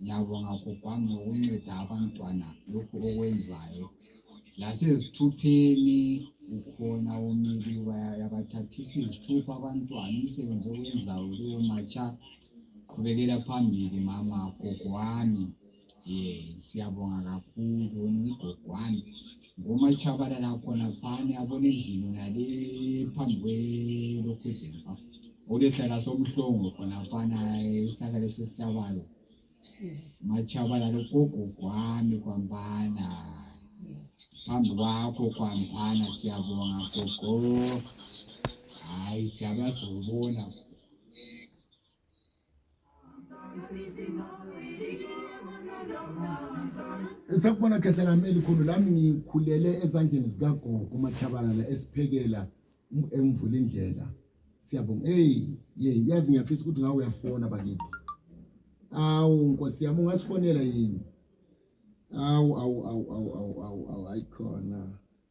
Ngiyabonga bhubhani ngokunceda abantwana lokhu okwenzayo lasezithupheni ukhona umile uyabathathisa izithupha abantwana umsebenzi owenzayo kuwo matsha qhubekela phambili mama gogo wami um siyabonga kakhulu wena ugogo wami ngomatshabalala khonaphana yabona endlini yonale phambi kwelokhuzeni Ukehlala sobuhlungu khonafana isihlahla lesi esihlabayo. Matshabala logogo kwami kwambana. Phambi kwakho kwambana siyabonga gogo. Hayi siyabazobona. Sakubona khehla lami elikhulu lami ngikhulele ezandleni zikagogo uMachabalala esiphekela emvula indlela siyabonga hey yey yazi ngiyafisa ukuthi ngawe uyafona bakithi awu nkosi yami ungasifonela yini awu awu awu awu awu awu ayikhona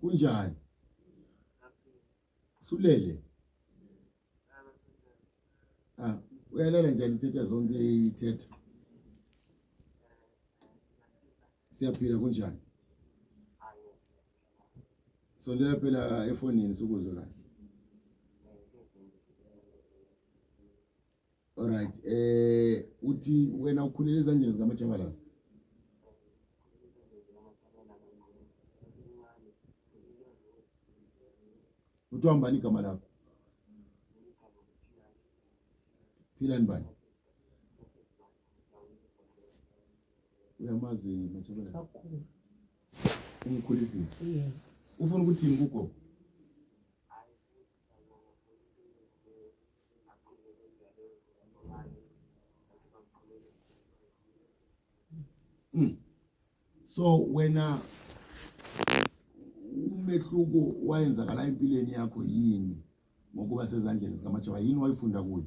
Kunjani? Sulele. Ah, uyalala njani ithetha zonke ithetha. Siyaphila kunjani? Sondela phela efonini sikuzwe kahle. Alright. Eh uthi wena ukhulele ezandleni zika Machabalala. Uthi uhambani igama lakho? Philani bani? Uyamazi Machabalala? Kakhulu. Umkhulisile. Yeah. Ufuna ukuthi ngikho? Hmm. so wena umehluko wayenzakala empilweni yakho yini ngokuba sezandleni zikamajaba yini wayifunda kuyo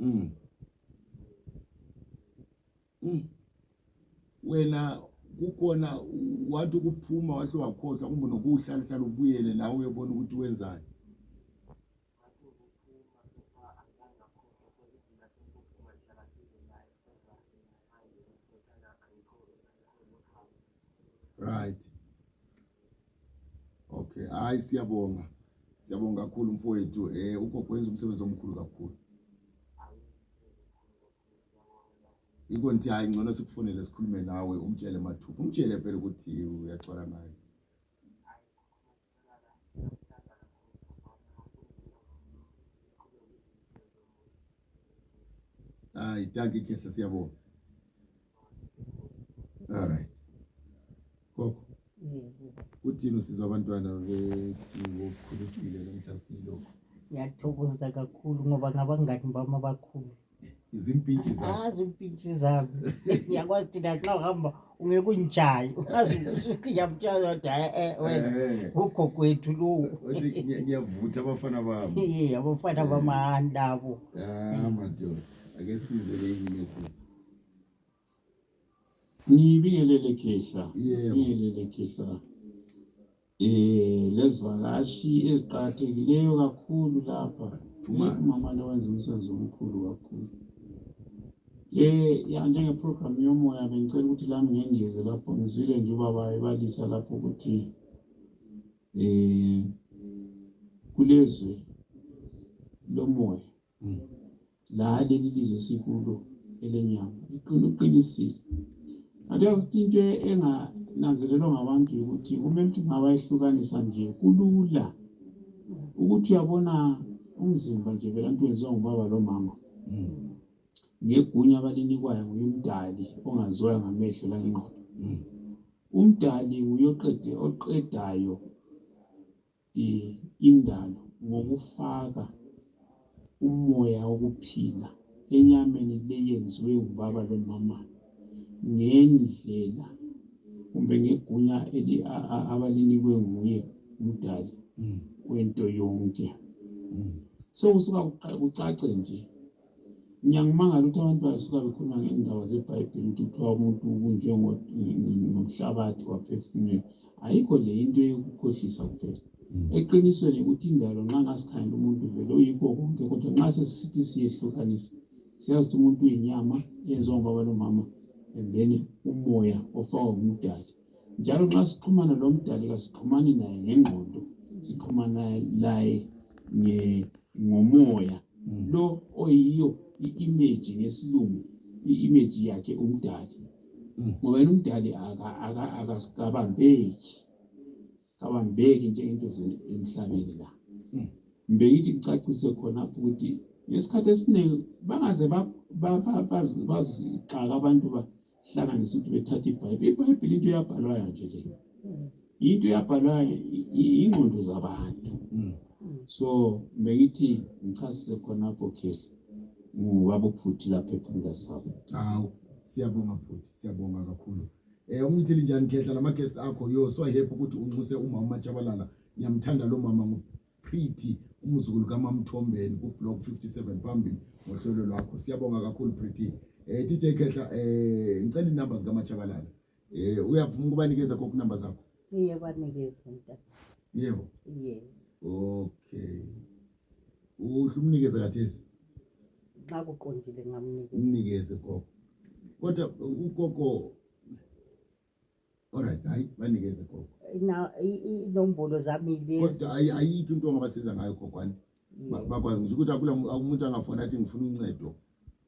mm. Mm. wena kukhona wathi ukuphuma wahle wakhohlwa kumbe nokuwuhlalahlala ubuyele la uyobona ukuthi wenzani Right. Okay. Hayi siyabonga. Siyabonga kakhulu mfowethu. Eh ugogo wenza umsebenzi omkhulu kakhulu. Yiko nti hayi ngcono sikufonele sikhulume nawe umtshele mathupha. Umtshele phela ukuthi uyagcwala naye. Ah, itaki kesa sia bo. All right. Koko. Uthini usizwa abantwana bethi ngokukhulisile namhla silokho. Ngiyathokoza kakhulu ngoba ngabangani bami abakhulu. zimpintshi zakho azi impintshi zami ngiyakwazi thina nxa uhamba ungeke ungijayi ungazi ukuthi ngiyamtshela ukuthi hayi eh wena Eh, ugogo wethu lowu wathi ngiya- ngiyavutha abafana bami Iye, abafana bamahani labo Ah, madoda ake size ke imessage Ngibingelele khehla, Yebo. ngibingelele khehla. Eh lezivakashi eziqakathekileyo kakhulu lapha. Phuma. Umama lo wenza umsebenzi omkhulu kakhulu. Eh ya njenge program yomoya bengicela ukuthi lami ngengeze lapho ngizwile nje ubaba ebalisa lapho ukuthi eh kulezwe lomoya Hmm. La leli lizwe sikulo elenyama liqina uqinisile kanti yasuthi into engananzelelwa ngabantu yokuthi kumele ukuthi ngabayehlukanisa nje kulula ukuthi uyabona umzimba nje vela nto wenziwa ngubaba lomama hmm. ngegunya abalinikwayo nguye umdali ongaziwayo ngamehlo langengqondo hmm. umdali nguye oqede oqedayo indalo ngokufaka umoya wokuphila enyameni le yenziwe ngubaba lomama ngendlela kumbe ngegunya abalinikwe nguye umdali hmm. wento yonke hmm. so kusuka kucace nje Ngiyangimangala ukuthi abantu basuka bekhuluma ngendaba zeBhayibhili ukuthi kuthiwa umuntu ubunjwe ngomhlabathi waphefumulelwa. Ayikho le into yokukhohlisa kuphela. Hmm. Eqinisweni ukuthi indalo nxa ngasikhangela umuntu vele uyikho konke kodwa nxa sesisithi siyehlukanisa siyazi ukuthi umuntu uyinyama eyenziwa ngubaba lomama and then umoya ofakwa ngumdali. njalo nxa sixhumana lomdali kasixhumani naye ngengqondo sixhumana laye ngomoya mm. lo oyiyo i-image ngesilungu i-image yakhe umdali mm. ngoba yena umdali akasicabambeki kabambeki njengento emhlabeni la hmm. mbe yithi kucacise khonapho ukuthi ngesikhathi esiningi bangaze bazixaka abantu bahlanganise ukuthi bethathe ibhayibhile ibhayibhile into eyabhalwayo nje leyo hmm. into eyabhalwayo yingqondo zabantu hmm. so mbe ngithi ngichasise khonapho khehla ngubaba uphuthi lapha ephumula sabo hawu siyabonga bhuti siyabonga kakhulu Eh umthi linjani khehla lama guest akho yo so happy ukuthi unxuse umama Machabalala ngiyamthanda lo mama ngu Pretty umzukulu kaMamthombeni ku block 57 phambili ngohlelo lwakho siyabonga kakhulu Pretty eh DJ Khehla eh ngicela inamba zika Machabalala eh uyavuma ukubanikeza kokhu number zakho iye banikeza mntana yebo iye okay uhlumnikeze kathesi nxa kuqondile ngamnikeza umnikeze gogo kodwa ugogo alright hayi banikeze gogo Na- i- i- inombolo zami lezi kodwa ayi- ayikho into ongabasiza ngayo gogo anti Ba- bakwazi ngisho ukuthi akula mu- akumuntu angafona athi ngifuna uncedo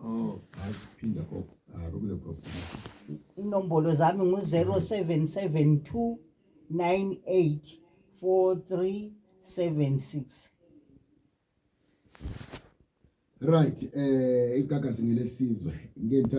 Oh, ngaphinda kwa ah, rokule kwa inombolo zami ngu 0772984376 right eh igagasi ngelesizwe ngeke ngithathe